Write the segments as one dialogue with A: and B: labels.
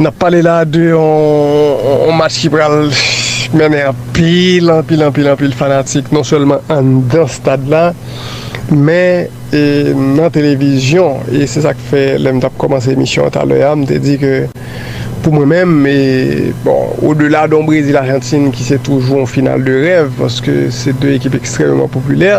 A: Nap pale la de yon match ki pral mennen anpil, anpil, anpil, anpil fanatik non sèlman anndan stad la men nan televizyon e se sak fè lè m tap kòmanse emisyon an talè a m te di ke pou mwen menm e bon o de la don Brezil Ajantin ki se toujou yon final de rèv paske se 2 ekip ekstrèmeman popilè.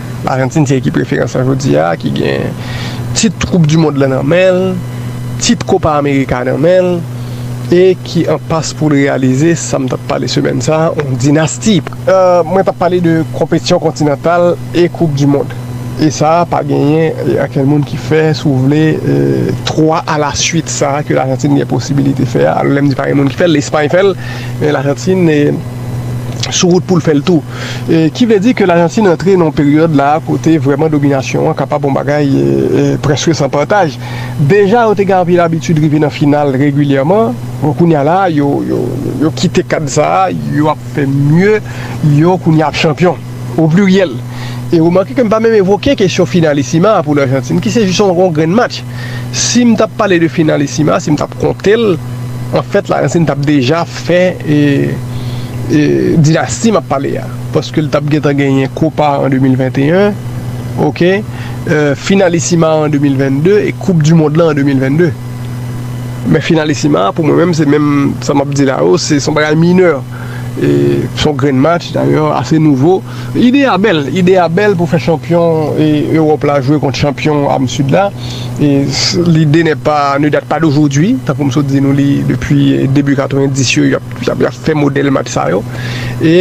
A: Ajantin se ekip referans lan jodi a ki gen tit koup du mond lan nan men l, tit Kopa Amerika nan men l e ki an pas pou l reyalize sa m t ap pale semèn sa a, yon dinasti. Mwen t ap pale de konpetisyon kontinantal e koup du mond. E sa a pa genyen ankenn moun ki fè, si w vle, 3 a la suit sa a ke Lajantin gen posibilite fè a. Lè m di pa gen moun ki fè l, Lespay fè l, men Lajantin sou wout pou l fè l tou. Ki vle di ke Lajantin antre nan yon peryòd la a kote vrèman dominasyon an kapab yon bagay prèske san pataj. Deja yo te gen anpil abitid rive nan final regilyèman, bon kounya la a yo kite kad sa a, yo ap fè mye, yo kounya ap chanpyon, o pliryèl. E remake ke m pa menm evoke kesyon finalisima a pou Lajantin ki se jis yon grenn match. Si m t ap pale de finalisima, si m t ap konte l, anfèt Lajantin t ap deja. Fen dinasti map pale a paske li tap gentan genyen kopa an 2021 ok finalisima an 2022 e koup du mond lan an 2022 men finalisima a pou mwen menm se menm sa map di la yo se son bagay minè e son grenn match dayè ase nouvo ide a bèl ide a bèl pou fè chanpyon Europe la jwe kont chanpyon am sud la. Lide ne pa ne date pas d'aujourd'hui tankou m sot di nou li depi debi 90 yo yap fè modèl match sa yo e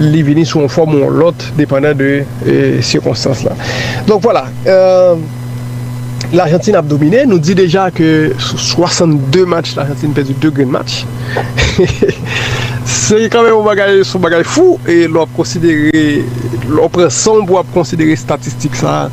A: li vini sou yon fòm ou yon lòt depandan de sikonstans la donk vwala L'Argentine ap domine nou di deja ke sou 62 match L'Argentine pèdi 2 grenn match se kanmenm yon bagay se yon bagay fou e lè wap konsidere lè w pran san w pou w ap konsidere statistik sa.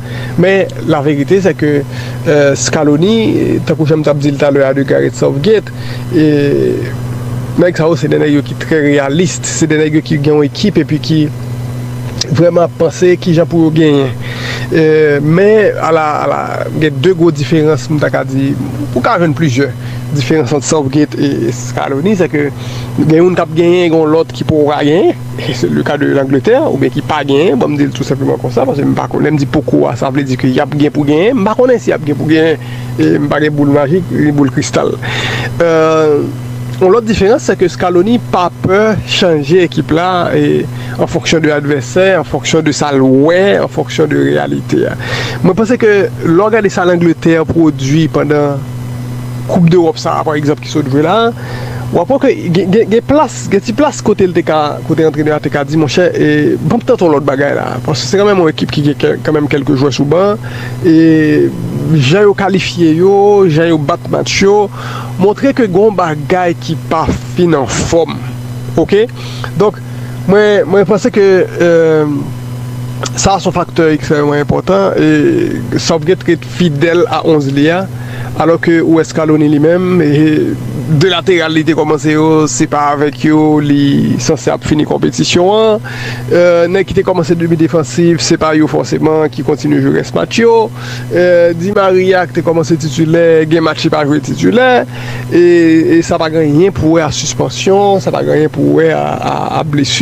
A: Men, laverite se ke Scaloni, tankou jan m t ap di l talè a de Gareth Southgate, nèg sa yo se 2 nèg yo ki trè reyalis, se 2 nèg yo ki gen yon ekip epi ki vrèman ap panse ki jan pou yo genyen. Men, ala, ala, gen 2 gwo diferans m ta ka di, ou ka jwenn plizyè diferans ant Southgate e Scaloni, se ke gen youn k ap genyen e gen yon lòt ki poko ka genyen. Si se le ka de Langletè oubyen ki pa genyen, banm di l tou senpleman konsa paske m pa konnen, lè m di poko a sa vle di ke y ap gen pou genyen, m pa konnen si y ap gen pou genyen e m pa gen boul majik ni boul kristal. Yon lòt diferans se ke Scaloni pa pè chanje ekip la an fonksyon de advèsè, an fonksyon de sa l wè, an fonksyon de reyalite a. Mwen panse ke lè w gade sa Langletè pwodui pandan koup dEròp sa a pa egzanp ki sot jwe la a, Wap wè ke gen plas, gen ti plas kote li te ka, kote antrenè a te ka di monchè banm tante yon lòt bagay la. Paske se kanmenm yon ekip ki gen kanmenm kelke jwè sou ban e jan yo kalifye yo, jan yo bat match yo montre ke gen yon bagay ki pa fin anfòm ok. Donk mwen, mwen panse ke sa a son faktè ekstrèmeman enpòtan e sa w gen. fidèl a 11 li a, alò ke ou wè Scaloni li menm, 2 lateral li te kòmanse yo, se pa avèk yo li sanse ap fini konpetisyon an, nèg ki te kòmanse demi defansif, se pa yo fòseman ki kontinye jwe rès match yo, Di Maria ki te kòmanse titilè, gen match li pa jwe titilè, e sa pa gen anyen pou wè a sispansyon, sa pa gen anyen pou wè a blesi.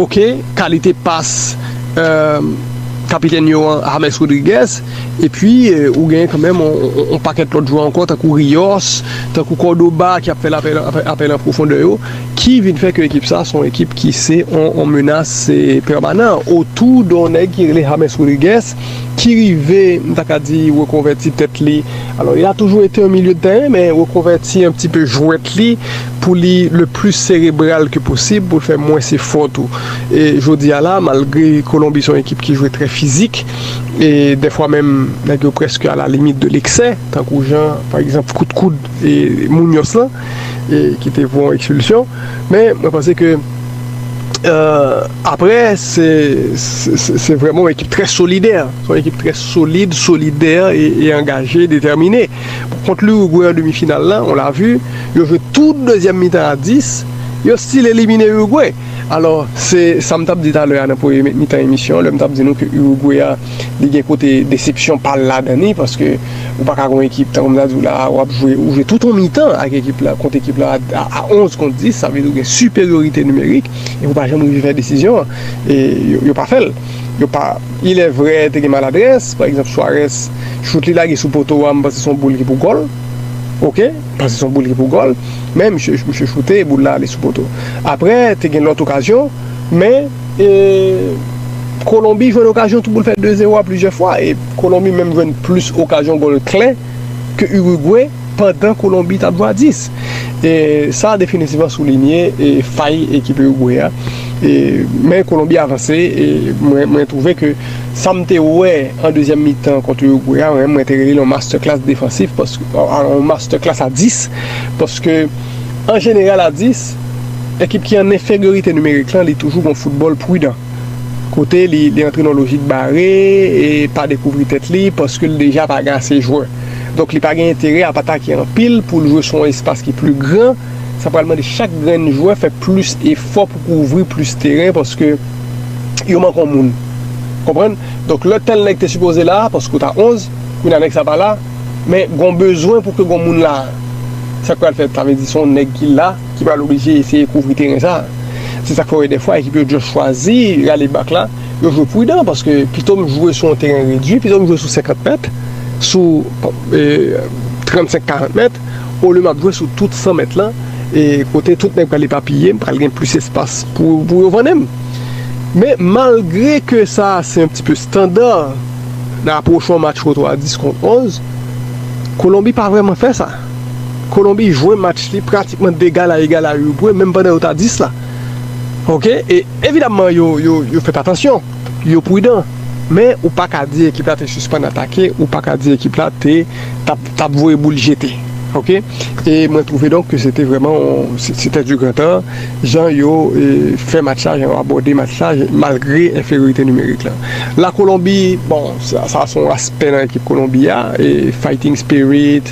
A: Ok kalite pas kapitèn yo an James Rodriguez epi ou genyen kanmenm yon pakèt lòt jwè ankò tankou Rios, tankou Cordoba ki ap fè apèl an pwofondè yo ki vin fè ke ekip sa se yon ekip ki se yon menas pèmanan otou de yon nèg ki rele James Rodriguez ki rive m ta ka di rekonvèti tèt li alò il a toujou ete yon milye de tèren men rekonvèti yon ti pe jwèt li. pou li le plis serebral ke posib pou l fè mwens efò tou e jodi a la malgre Kolonbi se yon ekip ki jwe trè fizik e dèfwa menm nèg yo prèske a la limit de leksè tankou jan pa egzanp kout koud Muñoz lan e ki te pou yon ekspilsyon men mwen panse ke aprè se vrèman yon ekip trè solidè se yon ekip trè solid solidè e angaje detèmine. Kont l'Uruguay an demi final lan, on l'a vu, yo jwe tout dezyèm mitan a 10, yo stil elimine Uruguay. Alò, se sa m t ap di talè a nan premye mitan emisyon an, lè m t ap di nou ke Uruguay a, li gen kote desepsyon pa l ladan li, paske ou pa ka gen yon ekip, tankou m ta di w la a, w ap jwe, ou jwe tout yon mitan ak ekip la, kont ekip la a 11 kont 10, sa vle di ou gen siperyorite nimerik, epi ou pa janm rive fè desizyon an, e yo pa fè l. Yo pa. Ilèvre, te gen maladrès. Pa egzanp, Suarez, chout li lage sou poto a, m panse se yon boul ki pou gòl. Ok. M panse se yon boul ki pou gòl. Men, misye, misye choute, boul la ale sou poto. Apre, te gen lòt okazyon. Men, e, Kolonbi jwenn okazyon tou pou l fè 2 zero a plizyè fwa. E Kolonbi menm jwenn plis okazyon gòl klè. ke Urugwe pandan Kolonbi tap jwe a 10. E sa definitivman soulinye fay ekip Urugwe a. E men Kolonbi avanse e mwen twouve ke sam te wè an dezyèm mitan kont Urugwe a mwen te rele l yon masterclass defansif paske yon masterclass a 10 paske an jeneral a 10 ekip ki an enferyorite nimerik lan li toujou gon foutbòl prudan. kote li li antre nan lojik bare e pa dekouvri tèt li paske li deja pa gen ase jwè. Donk li pa gen enterè ap atake anpil pou l jwe sou yon espas ki pli gran, sa pral mande chak grenn jwè fè plis efò pou kouvri plis teren paske yo manke yon moun. Konprann? Donk lè tèl nèg te sipoze la, paske ou ta 11, kounya nèg sa pa la, men gen yon bezwen pou ke gen yon moun la. Sa k pral fèt? Sa vle di se yon nèg ki la. ki pral oblije eseye kouvri teren sa a. Se sa k fè w wè dèfwa ekip yo just chwazi rale bak la, yo jwe pridan paske pito m jwe sou yon teren redui, pito m jwe sou 50 mèt, sou 35, 40 mèt olye m ap jwe sou tout 100 mèt lan e kote tout nèg pral epapiye, m pral gen plis espas pou yo vannen m. Men, malgre ke sa a se yon ti pe standa nan apwoch yon match kote w a 10 kont 11, Kolonbi pa vrèman fè sa. Kolonbi jwe match li pratikman d'egal a egal a Urugwe menm pandan yo ta 10 la ok e evidamman yo yo yo fè atansyon yo prudan men ou pa ka di ekip la te sispann atake ou pa ka di ekip la te tap tap voye boul jete ok e mwen trouve donk ke se te vrèman yon se tè di gran tan jan yo fè match la jan yo abòde match la malgre enferyorite nimerik la la Kolonbi bon sa se yon aspè nan ekip Kolonbi a e fighting spirit.